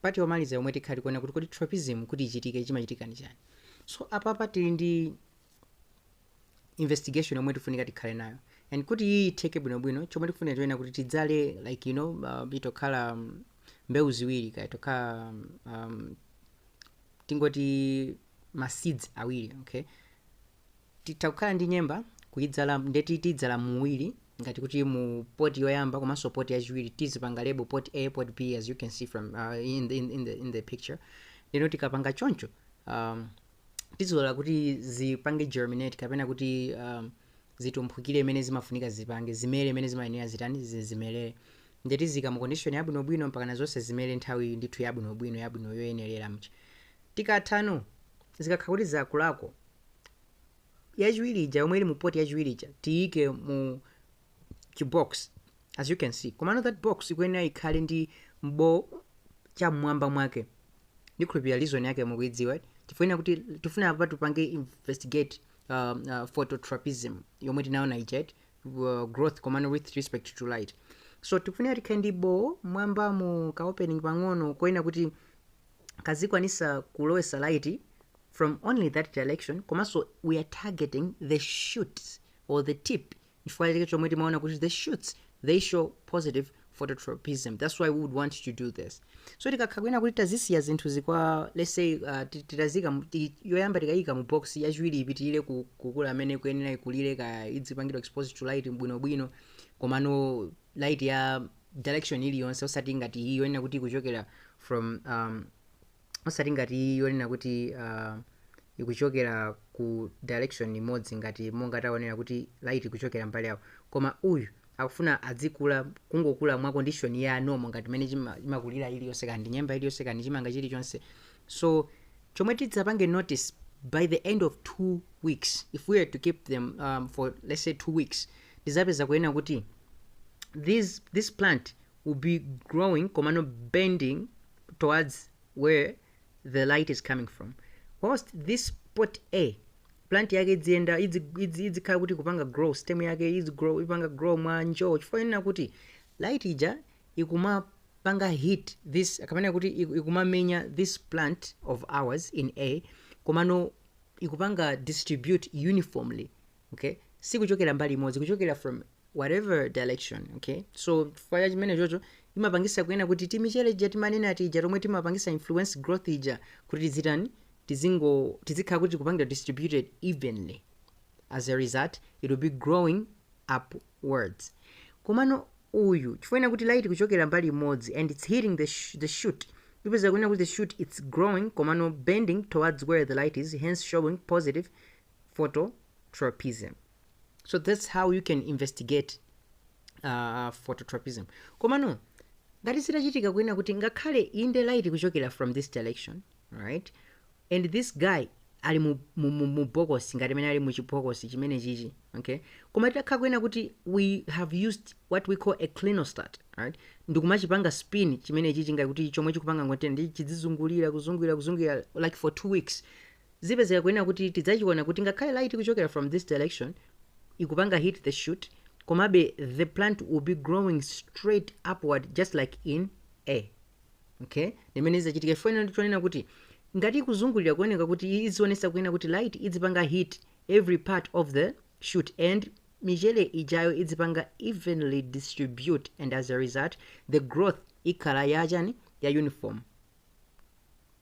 part yomaliza yomwe tikhala tikuona kuti kodi tropism kuti ichitike chimachitika ndi chani so apapa tili ndi investigation yomwe tifunika tikhale nayo and kuti iyi itheke bwinobwino chomwe tifunika chonena kuti tidzale like you know uh, itokhala um, mbewu ziwiri kaya itokhala um, um, tingoti ma seeds awiri okay Titha kukhala ndi nyemba kuidzala ndeti tidzala muwiri ngati kuti mu pot yoyamba komanso pot yachiwiri tizipanga label pot A pot B as you can see from uh, in, the, in, in, the, in the picture ndeno tikapanga choncho um, tizilola kuti zipange germinate kapena kuti um, zitumphukire mmene zimafunika zipange zimere mmene zimayenera zitani zizimerere nde tizika mu condition yabwinobwino mpaka na zonse zimere nthawi ndithu yabwinobwino yabwino yoyenerera nde tikatha apo zikakhala kuti zakulako yachiwiri ija yomwe ili mu poti yachiwiri ija tiyike mu chibox as you can see komano that box ikuyenera ikhale ndi boo cha mmwamba mwake ndikhulupirira reason yake mukuidziwa tifuna kuti tikufuna apa tipange investigate um, uh, phototropism yomwe tinaona ija eti uh, growth komano with respect to light so tikufuna tikhale ndi boo mmwambamu ka opening pang'ono konena kuti kazikwanisa kulowesa light from only that direction komanso we are targeting the shoots or the tip chifukwa chake chomwe timaona kuti the shoots they show positive phototropism that's why we would want to do this so tikakhala kunena kuti tazisiya zinthu zikwa let's say uh, ti- titazika mu- ti- yoyamba tikayika mu box yachiwiri ipitirire ku- kukula mmene ikuyenera ikulire kaya idzipangidwa exposed to light bwinobwino komano light ya direction iliyonse osati ngati iyi yonena kuti ikuchokera from um, osati ngati iyi yonena kuti uh, ikuchokera ku direction imodzi ngati monga taonera kuti light ikuchokera mbali yawo koma uyu akufuna adzikula kungokula mwa condition ya normal ngati mmene chima- chimakulira iliyonse kaya ndi nyemba iliyonse kaya ndi chimanga chilichonse so chomwe tidzapange notice by the end of two weeks if we are to keep them um, for let's say two weeks tizapeza kunena kuti these this plant will be growing komano bending towards where the light is coming from whilst this pot a plant yake idziyenda idzi- idzi- idzikhala kuti ikupanga grow stem yake idzi grow ipanga grow mwa njoo chifukwa chonena kuti light ija ikumapanga hit this kapena kuti iku- ikumamenya this plant of ours in a komano ikupanga distribute uniformly okay sikuchokera mbali imodzi kuchokera from whatever direction okay so chifukwa cha chimenecho imapangisa kunena kuti timichere ija timanena aja ija tomwe timapangisa influence growth ija kuti tizitani tizingo tizikhala kuti kupangidwa distributed evenly as a result it will be growing upwards komano uyu chifukwa kuti light kuchokera mbali imodzi and it's hitting the, sh the shoot ipezeka kunena kuti the shoot it's growing komano bending towards where the light is hence showing positive phototropism so that's how you can investigate uh, phototropism komano ngati zitachitika kunena kuti ngakhale inde light kuchokera from this direction right and this guy ali mu, mu, mu, mu bokosi ngati mmene ali mu chibokosi chimene chichi okay koma titakhala kunena kuti we have used what we call a clinostat right ndikumachipanga spin chimene chichi ngati kuti chomwe chikupanga rotate ndiye chidzizungulira kuzungulira kuzungulira like for two weeks zipezeka kunena kuti tidzachiona kuti ngakhale light ikuchokera from this direction ikupanga hit the shoot komabe the plant will be growing straight upward just like in a okay ndi mmene izachitika chifukwa nditonena kuti ngati ikuzungulira kuoneka kuti i- izionesa kunena kuti light idzipanga hit every part of the shoot and michele ijayo idzipanga evenly distribute and as a result the growth ikhala yachani ya uniform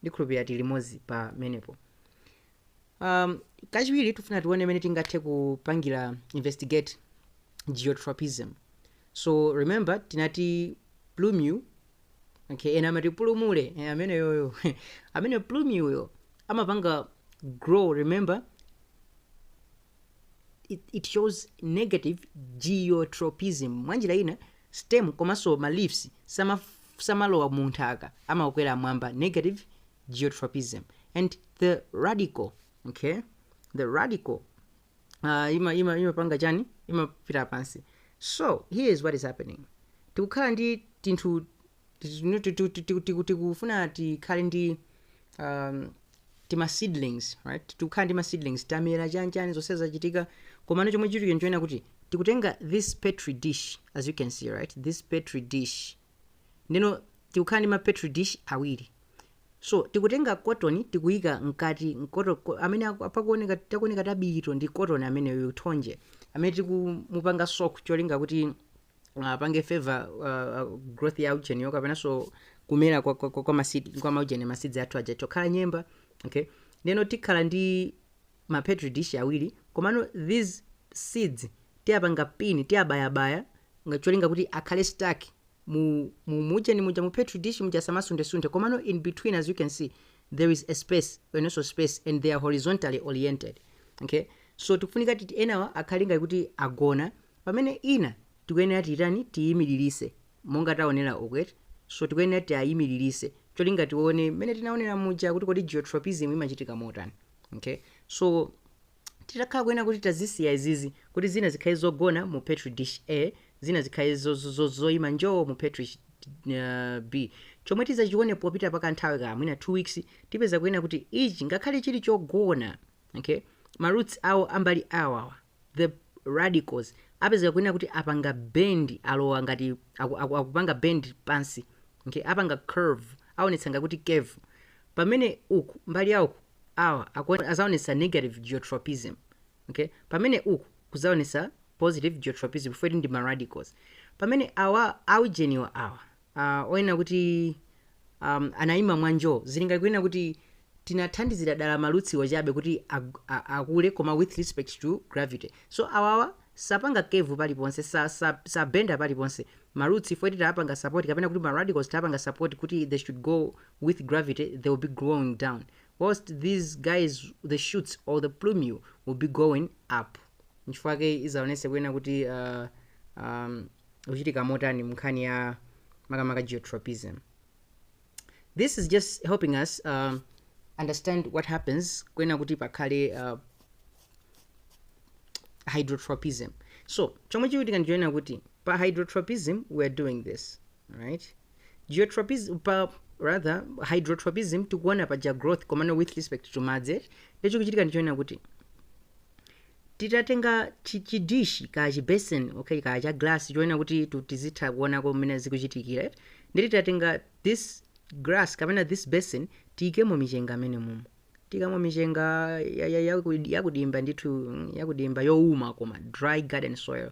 ndikhulupirira tili limodzi pamenepo um, kachiwiri tifuna tione mmene tingathe kupangira investigate geotropism so remember tinati plumule okay ena amati pulumule eh, ameneyoyo amene plumuleyo amapanga grow remember it, it shows negative geotropism mwanjira ina stem komanso ma leaves sama, samalowa mu nthaka amakwera mwamba negative geotropism and the radicle okay the radicle uh, ima ima imapanga chani imapita pansi so here is what is happening tikukhala ndi tinthu Tinu- ti- ti- ti- ti- ti- tikufuna tikhale ndi um, tima seedlings right tikukhala ndi ma seedlings tamera chanichani zonse zachitika komano chomwe chitike n'chonena kuti tikutenga this petri dish as you can see right this petri dish ndiyeno tikukhala ndi ma petri dish awiri so tikutenga cotton tikuyika mkati mkoto ko- amene aku- apakuoneka takuoneka tabirito ndi cotton ameneyo thonje amene tikumupanga soak cholinga kuti apange favor uh, uh, growth ya ujeni yo kapenanso kumera kwa, kwa, kwa, kwa, maseeds, kwa maujeni maseeds athu aja chokhala nyemba okay ndeno tikhala ndi ma petri dish awiri komano these seeds tiyapanga pini tiyabayabaya ngacholinga kuti akhale stuck mu mu mujeni muja mu petri dish muja samasundesunde komano in between as you can see there is a space and also space and they are horizontally oriented okay so tikufunika kuti enawa akhale ngati kuti agona Pamene ina tikuyenera titani tiimililise monga taonera uku eti so tikuyenera tiaimililise cholinga tione mmene tinaonera muja kuti kodi geotropism imachitika motani okay so titakhala kunena kuti tazisiya izizi kuti zina zikhale zogona mu petri dish A zina zikhale zo, zo, zo, zoima njoo mu petri uh, B chomwe tizachione popita pa kanthawi ka mwina 2 weeks tipeza kunena kuti ichi ngakhale chili chogona okay ma roots awo a mbali awawa the radicles apezeka kunena kuti apanga bend alowa ngati aku, aku, akupanga bend pansi okay apanga curve aonetsa ngati kuti curve pamene uku mbali ya kuku awa akuone- azaonetsa negative geotropism okay pamene uku kuzaonetsa positive geotropism chifukwa choti ndi ma radicles pamene awa aujeniwa awa uh, onena kuti um, anayima mwa njo zili ngati kunena kuti tinathandizira dala marootsiwo chabe kuti ag- a- akule koma with respect to gravity so awawa sapanga curve paliponse sa- sa- sabenda paliponse maroots chifukwa choti tapanga support kapena kuti maradicles tapanga support kuti they should go with gravity they will be growing down whilst these guys the shoots or the plumule will be going up nchifukwa chake izaonese kunena kuti uh, um, ukuchitika motani mnkhani ya makamaka geotropism this is just helping us um, understand what happens kunena kuti pakhale uh, hydrotropism so chomwe chikuchitika ndichonena kuti pa hydrotropism we are doing this right geotropism pa rather hydrotropism tikuona paja growth komano with respect to madzi nde chomwe chikuchitika ndichonena kuti titatenga chi, chi dish kaya chi basin okay kaya cha glass chonena kuti tu tizitha kuonako mmene zikuchitikira eti nde titatenga this glass kapena this basin tiikemo michenga amene mumo tiikamo michenga ya- ya- yaku- yakudimba ndithu mm, yakudimba youma koma dry garden soil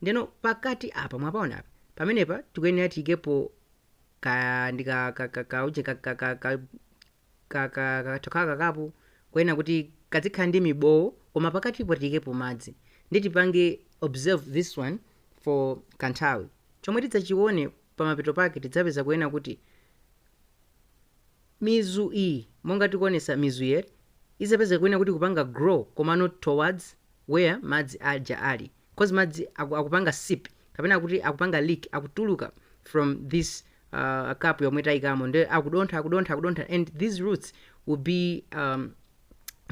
ndeno pakati apa mwapaona apa pamenepa tikuyenera tiikepo ka ndi ka ka ka ka uje ka ka ka ka ka, ka, kathu kaka kapu konena kuti kadzikhala ndi mibowo koma pakatipo tiyikepo madzi nde tipange observe this one for kanthawi chomwe tidzachione pamapeto pake tidzapeza kunena kuti mizu iyi monga tikuonesa mizuyi izapezeka kunena kuti ikupanga grow komano towards where madzi aja ali coz madzi aku akupanga seep kapena kuti akupanga leak akutuluka from this uh, cup yomwe tayikamo nde akudontha akudontha akudontha and these roots will be um,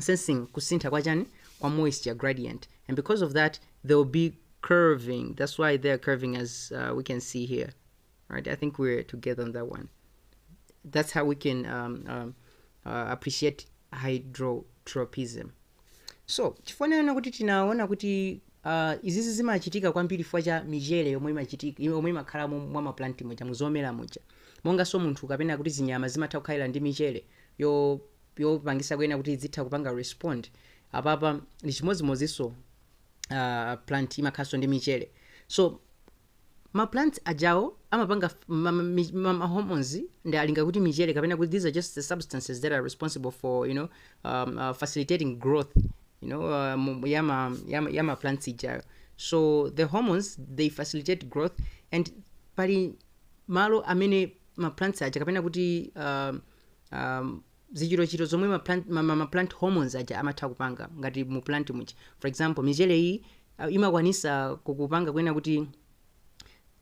sensing kusintha kwa chani kwa moisture gradient and because of that they will be curving that's why they are curving as uh, we can see here All right, I think we're together on that one. That's how we can um, um, uh, appreciate hydrotropism. So chifukwa chonena kuti tinaona kuti uh, izizi zimachitika kwambiri chifukwa cha michere yomwe imachitika yomwe imakhala mu- mwa maplanti muja muzomera muja monganso munthu kapena kuti zinyama zimatha kukhalira ndi michere yo- yopangisa kunena kuti zitha kupanga respond apapa ndi chimodzimodzinso uh, plant imakhalanso ndi michere so Ma plants ajawo amapanga ma, ma, ma, ma hormones ndi cholinga kuti michere kapena kuti these are just the substances that are responsible for you know um, uh, facilitating growth you know uh, ya ma, ya, ya ma plants ijayo so the hormones they facilitate growth and pali malo amene ma plants aja kapena kuti um, um, zichitochito zomwe ma plant, ma, ma, ma plant hormones aja amatha kupanga ngati mu plant muja for example michere iyi uh, imakwanisa kukupanga kunena kuti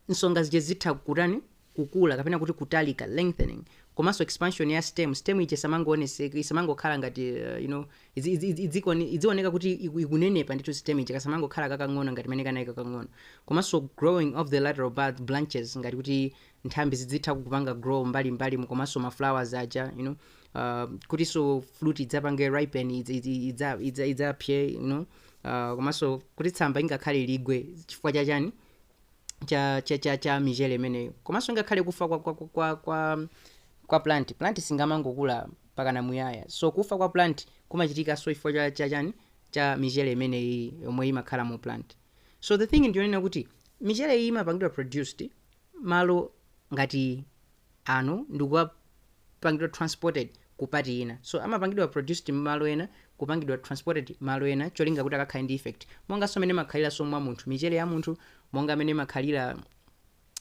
nsonga zija zitha kutani kukula kapena kuti kutalika lengthening komanso expansion ya stem stem ija isamangoonese- isamangokhala ngati uh, you know idzi- idzi- idzi- idzioni- idzioneka kuti iku- ikunenepa ndithu stem ija kasamangokhala kakang'ono ngati mene kanaliri kakang'ono komanso growing of the lateral bud- branches ngati kuti nthambi zidzitha kupanga grow mbali mbalimu komanso ma flowers aja you know uh, kutinso fruit idzapange ripen idz- idz- idza- idza- idzapse you know uh, komanso kuti tsamba ingakhale ligwe chifukwa cha chani cha cha cha, cha michere imeneyo komanso ngakhale kufa kwa, kwa, kwa, kwa, kwa, kwa plant plant siingamangokula pakana muyaya so kufa kwa plant kumachitikanso chifukwa cha, cha chani cha michere imeneyi yomwe imakhala mu plant so the thing ndiyonena kuti michere iyi imapangidwa produced malo ngati ano ndikukapangidwa transported ku part ina so amapangidwa produced malo ena kupangidwa transported malo ena cholinga kuti akakhale ndi effect monganso mene imakhaliranso mwa munthu michere ya munthu monga mene imakhalira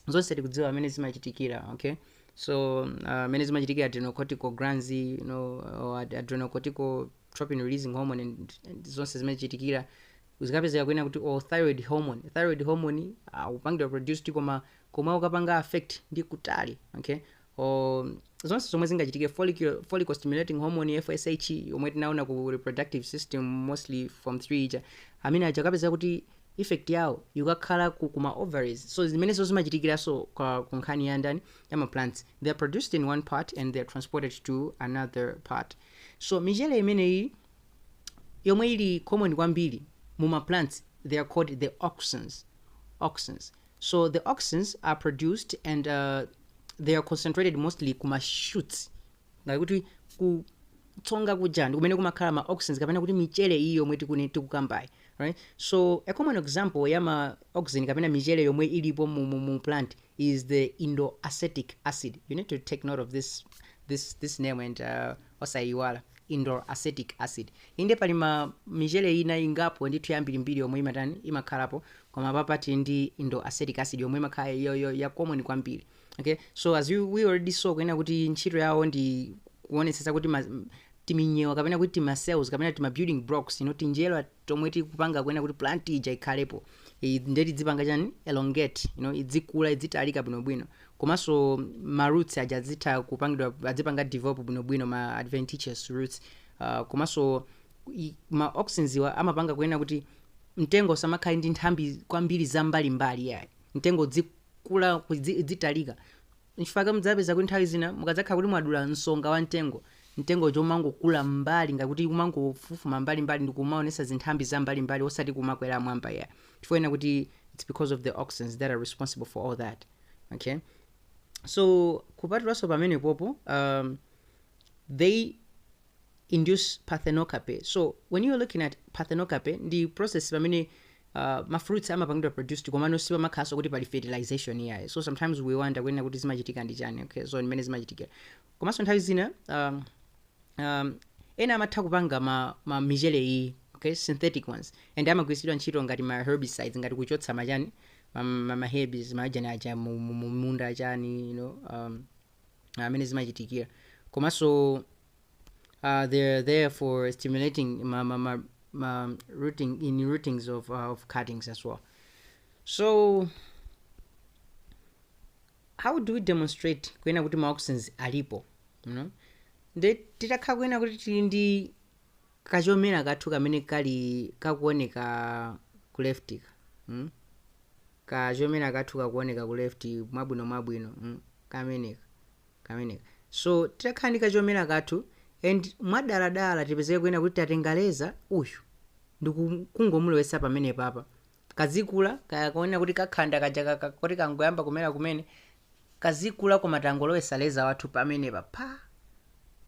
zonse tikudziwa mene zimachitikira okay so uh, mene zimachitikira adrenocortical glands you know, or ad- adrenocorticotropin releasing hormone and, and zonse zimachitikira zikapezeka kunena kuti or thyroid hormone thyroid hormone ukupangidwa uh, produced koma komwe ukapanga affect ndi kutali okay or zonse zomwe zingachitike follicle, follicle stimulating hormone fsh yomwe tinaona ku reproductive system mostly form 3 ija amene aja kapeza kuti effect yawo ikukakhala ku kuma ovaries so zimenezo zimachitikiranso kwa- ku nkhani ya ndani ya ma plants they are produced in one part and they are transported to another part so michere imeneyi yomwe ili common kwambiri mu ma plants they are called the auxins auxins so the auxins are produced and uh, they are concentrated mostly ku ma shoots ngati kuti ku tsonga kuja ndi kumene kumakhala ma auxins kapena kuti michere iyi yomwe tiku- tikukambayi right so a common example ya ma auxin kapena michere yomwe ilipo mu, mu, mu plant is the indoacetic acid you need to take note of this this this name and uh, Osaiwala indol acetic acid. Inde pali ma michere ina ingapo ndithu yambirimbiri yomwe imatani, imakhalapo, koma apapa tili ndi indol acetic acid yomwe imakhala ya, ya, ya common kwambiri. Okay? So as you, we already saw kunena kuti ntchito yawo ndi kuonetsetsa kuti ma, timinyewa kapena kuti tima cells kapena tima building blocks you know, tinjerwa tomwe tikupanga kunena kuti plant ija ikhalepo I- nde tidzipanga chani elongate you know, idzikula idzitalika bwinobwino komanso ma roots aja adzitha kupangidwa adzipanga develop bwinobwino ma adventitious roots uh, komanso i- ma auxins-wa amapanga kunena kuti mtengo usamakhale ndi nthambi kwambiri zambalimbali yayi mtengo udzikula kudzi- udzitalika nchifukwa mudzapeza kuti nthawi zina mukadzakhala kuti mwadula nsonga wa mtengo mtengo umangokula mbali ngakuti kumangofufuma mbalimbali ndi kumaonesa zinthambi za mbalimbali osati kumakwera mmwamba yayi chifukwa chonena kuti its because of the auxins that are responsible for all that okay so kupatulanso pamenepopo um, they induce parthenocarpy so when you're looking at parthenocarpy ndi process pamene uh, mafruits amapangidwa produced komano sipamakhalanso kuti pali fertilization iyayi so sometimes we wonder kunena kuti zimachitika ndi chani okay so mmene zimachitikira komanso nthawi zina um, um, ena amatha kupanga ma, ma michele iyi okay synthetic ones and amagwiritsidwa ntchito ngati ma herbicides ngati kuchotsa machani ma, ma, ma herbs machani aja mu- mu- mu- munda achani you know, um, mmene zimachitikira komanso uh, they're there for stimulating ma, ma, ma, ma rooting in rootings of, uh, of cuttings as well so how do we demonstrate kunena kuti ma auxins alipo you know? nde titakhala kunena kuti tili ndi kachomera kathu kamene kali kakuoneka ku left ka mm? kachomera kathu kakuoneka ku left mwabwino mwabwino mm? kameneka kameneka so titakhala ndi kachomera kathu and mwadaladala tipezeke kunena kuti tatenga leza uyu ndikungomulowetsa pamenepapa kazikula, kaya konena kuti kakhanda kaja ka- ka- koti kangoyamba kumera kumene kazikula koma tangolowesa leza wathu pamenepa pa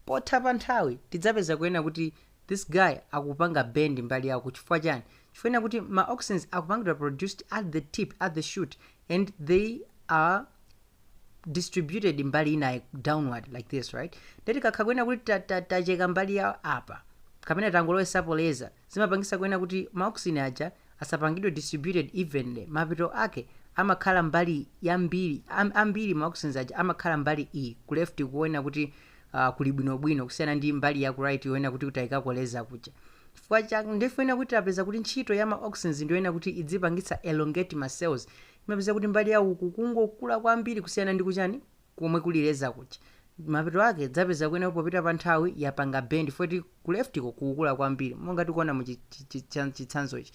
potha pa nthawi tidzapeza kuena kuti this guy akupanga bend mbali ya uko chifukwa chani chifukwa ena kuti ma auxins akupangidwa produced at the tip at the shoot and they are distributed mbali ina downward like this right ndeti kakha kuena kuti ta- ta- tacheka mbali ya apa kapena tangolowesapo leza zimapangisa kwena kuti ma auxin aja asapangidwe distributed evenly, mapeto ake amakhala mbali yambiri am, ambiri ma auxins aja amakhala mbali iyi ku left kuwena kuti uh, kuli bwino bwino kusiyana ndi mbali ya ku right yoyena kuti taikako leza kuja chifukwa cha ndifuna kuti tapeza kuti ntchito ya ma auxins ndiyoyena kuti idzipangitsa elongate ma cells imapeza kuti mbali ya uku kungokula kwambiri kusiyana ndi kuchani komwe kuli leza kuja mapeto ake idzapeza kwena popita pa nthawi yapanga bend foti ku left ko kukukula kwambiri monga tikuona mu chi- chi- chi- chan- chitsanzochi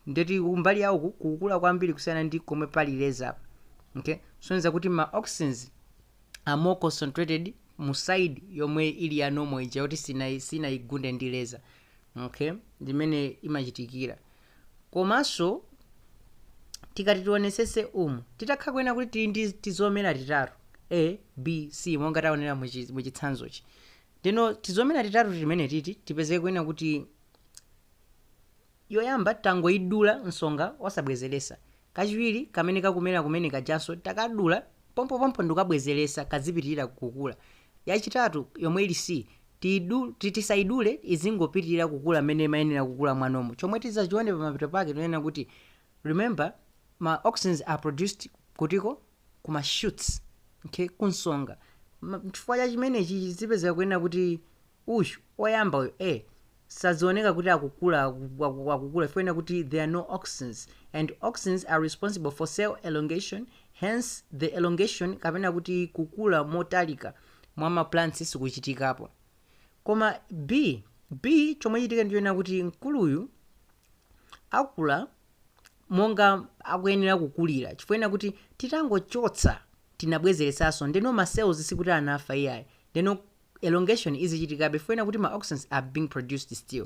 ndeti kumbali ya uku kukukula kwambiri kusiyana ndi komwe pali leza apa okay sonyeza kuti ma auxins are more concentrated mu side yomwe ili ya normal ija yoti sina sinaigunde ndi leza okay ndimene imachitikira Komanso tikati tionesese um titakhala kwena kuti tili ndi tizomera titatu A, B, C monga taonera mu chitsanzochi. Ndeno tizomera titatu timenetiti tipezeke kwena kuti yoyamba tangoidula nsonga osabwezeresa, kachiwiri kamene kakumera kumene kajanso takadula pompopompo ndikukabwezeresa kadzipitirira kukula, yachitatu yomwe ili C Tiyidu, ti, tisayidule izingopitirira kukula mmene imayenera kukula mwa normal. Chomwe tidzachione pamapeto pake tinena kuti remember ma auxins are produced kutiko? Ku ma shoots, okay, ku nsonga. Ma, chifukwa cha chimenechi zipezeka kwena kuti uyu, oyamba uyu, A, sadzioneka kuti akukula, aku, aku, akukula chifukwa ena kuti there are no auxins and auxins are responsible for cell elongation hence the elongation kapena kuti kukula motalika mwa ma plants sikuchitikapo koma b b chomwe chitike ndichonena kuti mkuluyu akula monga akuyenera kukulira chifukwa ena kuti titangochotsa tinabwezeretsanso ndeno ma cells sikuti anafa iyayi ndeno elongation izichitikabe chifukwa ena kuti ma auxins are being produced still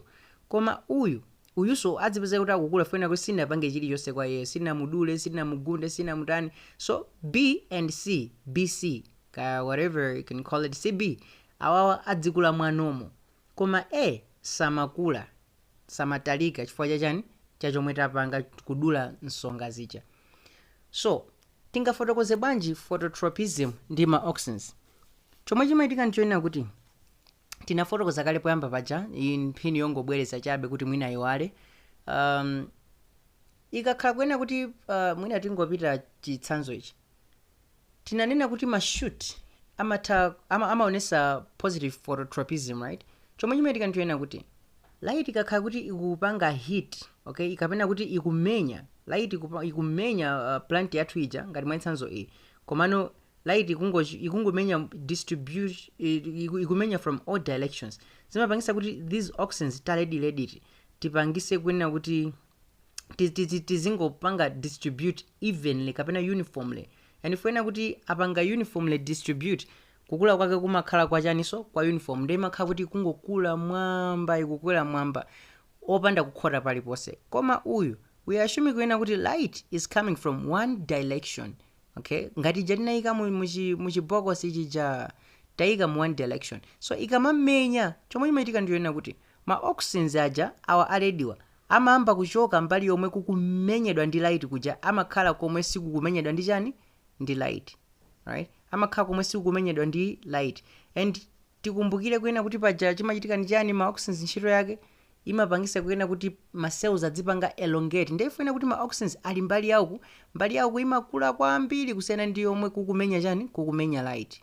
koma uyu uyuso adzipezeka kuti akukula chifukwa ena kuti sinapange chilichonse kwa iyeyo sinamudule sinamugunde sinamutani so b and c b c kaya whatever you can call it cb awawa adzikula mwanomo koma a samakula samatalika chifukwa cha chani cha chomwe tapanga kudula nsonga zija so tingafotokoze bwanji phototropism ndi ma auxins chomwe chimachitika ndichonena kuti tinafotokoza kale poyamba paja iyi mphini yongobwereza chabe kuti mwina iwale um, ikakhala kunena kuti uh, mwina tingopita chitsanzo ichi tinanena kuti ma shoot amatha ama, amaonesa positive phototropism right chomwe chimachitika ndichonena kuti light ikakhala kuti ikupanga hit okay ikapena kuti ikumenya light ikupa- ikumenya uh, plant yathu ija ngati mwachitsanzo iyi komano light ikungo- ikungomenya iku- ikumenya from all directions zimapangisa kuti these auxins ta redi redi tipangise kunena kuti ti- ti- ti- tizingopanga distribute evenly kapena uniformly and chifukwa chonena kuti tapanga uniformly distribute kukula kwake kumakhala kwa chaninso kwa uniform nde imakhala kuti ikungokula mmwamba ikukwera mmwamba opanda kukhota paliponse koma uyu we are assuming kunena kuti light is coming from one direction okay ngati ija tinayika mu- muchi- muchibokosi chija tayika mu one direction so ikamamenya chomwe chimachitika ndi chonena kuti Ma auxins aja awa a rediwa amayamba kuchoka mbali yomwe kukumenyedwa ndi light kuja amakhala komwe sikukumenyedwa ndi chani ndi light alright amakhala komwe sikukumenyedwa ndi light and tikumbukire kunena kuti paja chimachitika ndi chani ma auxins ntchito yake imapangisa kunena kuti ma cells adzipanga elongate nde chifukwa chonena kuti ma auxins ali mbali ya uku mbali ya uku imakula kwambiri kusiyana ndi yomwe kukumenya chani kukumenya light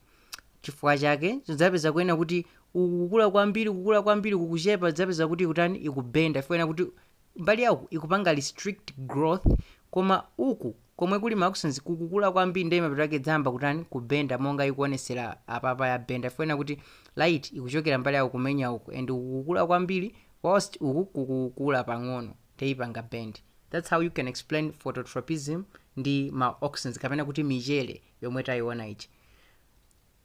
Chifukwa chake tidzapeza kunena kuti uku kukula kwambiri kukula kwambiri uku kuchepa tidzapeza kuti ikutani ikubenda chifukwa chonena kuti mbali ya uku ikupanga restrict growth koma uku komwe kuli mauxins kukukula kwambiri ndiye mapeto ake idzayamba kutani kubenda monga ikuonesera apapa yabenda chifukwa chonena kuti light ikuchokera mbali ya uku kumenya uku and uku kukula kwambiri whilst uku kukukula pang'ono ndiye ipanga bend that's how you can explain phototropism ndi mauxins kapena kuti michere yomwe tayiona ichi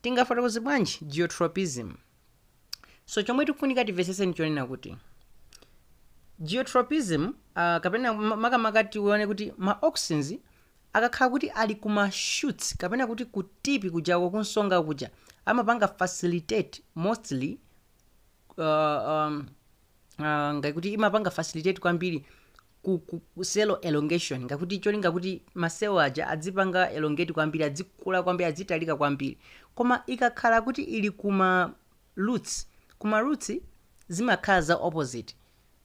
tingafotokoze bwanji geotropism so chomwe tikufunika timvetsetse ndi chonena kuti geotropism uh, kapena ma- makamaka tione kuti ma auxins akakhala kuti ali ku ma shoots kapena kuti ku tipi kujako kunsonga kuja amapanga facilitate mostly uh, um, uh, ngati kuti imapanga facilitate kwambiri ku, ku, ku cell elongation ngakuti cholinga kuti ma cell aja adzipanga elongate kwambiri adzikula kwambiri adzitalika kwambiri koma ikakhala kuti ili kuma roots kuma roots zimakhala za opposite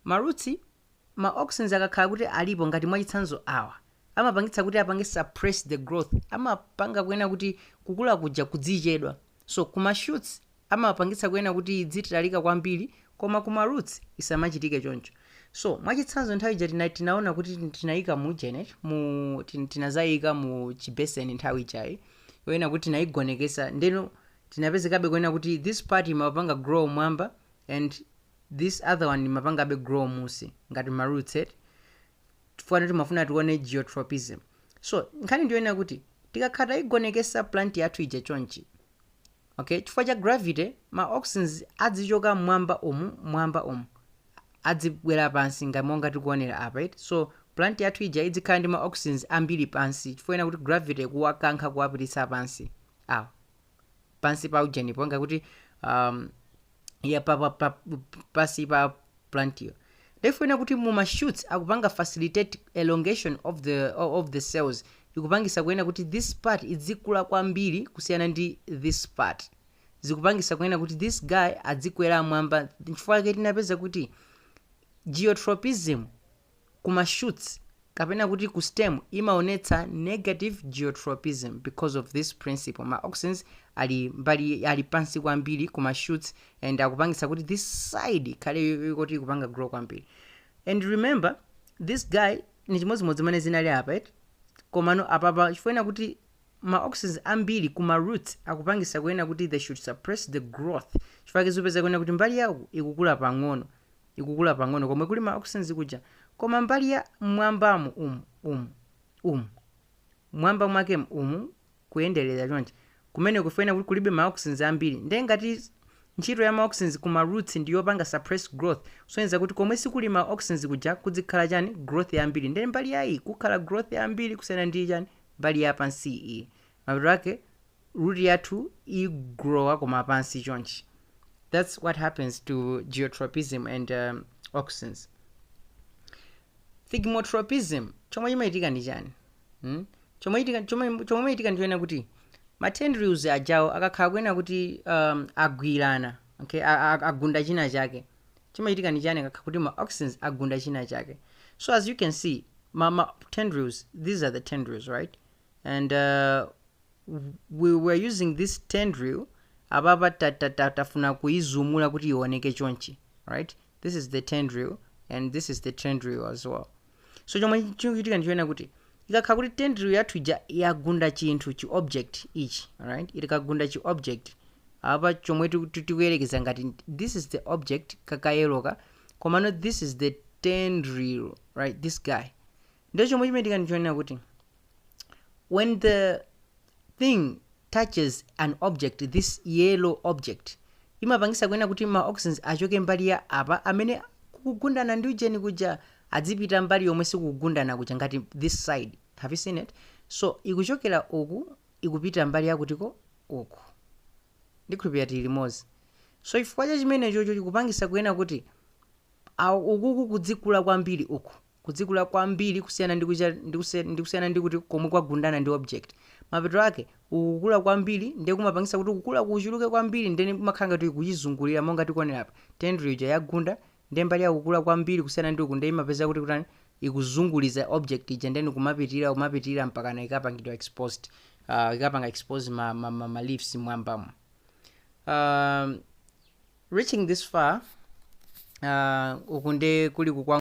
ma roots ma auxins akakhala kuti alipo ngati mwachitsanzo awa amapangitsa kuti apange suppress the growth amapanga kuena kuti kukula kuja kudzichedwa so kuma shoots amapangitsa kuena kuti idzitalika kwambiri koma ku ma roots isamachitike choncho so mwachitsanzo nthawi ija tina tinaona kuti tin- tinaika mu ujeni mu tin- tinazaika mu chibeseni nthawi ijayi yoena kuti tinaigonekesa ndeno tinapezekabe kuena kuti this part imapanga grow mwamba and this other one imapangabe grow musi ngati ma roots eti chifukwa timafuna tione geotropism so nkhani ndiyoena kuti tikakhala taigonekesa plant yathu ija chonchi Ok, chifukwa cha gravity, ma auxins adzichoka m'mwamba umu, m'mwamba umu, adzibwera pansi ngati monga tikuonera apa eti. So plant yathu ija idzikhala ndi ma auxins ambiri pansi chifukwa ena kuti gravity ikuwakankha kuwapititsa pansi awa pansi pa ujenipo ngakuti um, ya pa, pa, pa, pansi pa plantiyo nde poena kuti mu ma shoots akupanga facilitate elongation of the, of the cells ikupangisa kuena kuti this part idzikula kwambiri kusiyana ndi this part zikupangisa kuena kuti this guy adzikwera mwamba nchifukwa chake tinapeza kuti geotropism Kuma shoots kapena kuti ku stem imaonetsa negative geotropism because of this principle, ma auxins ali mbali ali pansi kwambiri kuma shoots and akupangitsa kuti this side ikhale yoti ikupanga grow kwambiri and remember this guy ni chimodzimodzi mene zinali apa eti komano apapa chifukwa ena kuti ma auxins ambiri kuma roots akupangisa kuena kuti they should suppress the growth chifukwa tikupeza kuena kuti mbali yake ikukula pang'ono ikukula pang'ono komwe kuli ma auxins kuja, koma mbali ya mmwambamu umu, umu, umu, mmwamba mwakemu umu kuyenderera chonchi, kumeneko koena kuti kulibe ma auxins ambiri, nde ngati ntchito ya ma auxins ku ma roots ndi yopanga suppress growth, kusonyeza kuti komwe sikuli ma auxins kuja kudzikhala chani, growth yambiri, nde mbali ya iyi kukhala growth yambiri kusiyana ndi chani, mbali ya pansiyi iyi. mapeto ake root yathu igrowa koma pansi chonchi that's what happens to geotropism and um, auxins thigmotropism chomwe chimachitika ndi chani hmm? chomwe chitika- chomwe- chomwe chimachitika ndi choena kuti ma tendrils ajawo akakhala kuena kuti um, agwirana okay? a- a- agunda china chake chimachitika ndi chani akakhala kuti ma auxins agunda china chake so as you can see ma, ma tendrils these are the tendrils right and uh, we were using this tendril apapa ta- ta- ta- tafuna kuizumula kuti ioneke chonchi right this is the tendril and this is the tendril as well so chomwe chimachitika ndi chonena kuti ikakhala kuti tendril yathu ija yagunda chinthu chi object ichi alright ikagunda chi object apa chomwe tiku- ti- tikuyerekeza ngati this is the object ka kayeloka komano this is the tendril right this guy ndiye chomwe chimachitika ndi chonena kuti when the thing touches an object this yellow object imapangisa kunena kuti ma auxins achoke mbali ya apa amene kukugundana ndi ujeni kuja adzipita mbali yomwe sikukugundana kuja ngati this side have you seen it so ikuchokera uku ikupita mbali yakutiko uku ndikhulupirira tili limodzi so chifukwa cha chimenechocho chikupangisa kunena kuti awo ukuku kudzikula kwambiri uku kudzikula kwambiri kusiyana ndi kuchi ndi kusi- ndi kusiyana ndi kuti komwe kwagundana ndi object mapeto ake ukukula kwambiri ndiye kumapangisa kuti kukula kuchuluke kwambiri ndeni kumakhala ngati kuchizungulira monga tikuonera apa tendril ija yagunda ndiye mbali yakukula kwambiri kusiyana ndi uku ndiye imapeza kuti kutani ikuzunguliza object ija ndeni kumapitirira kumapitirira mpakana ikapangidwa exposed uh, ikapanga expose ma, ma, ma, ma leaves mwambamo um, reaching this far uh, uku nde kuli kukwa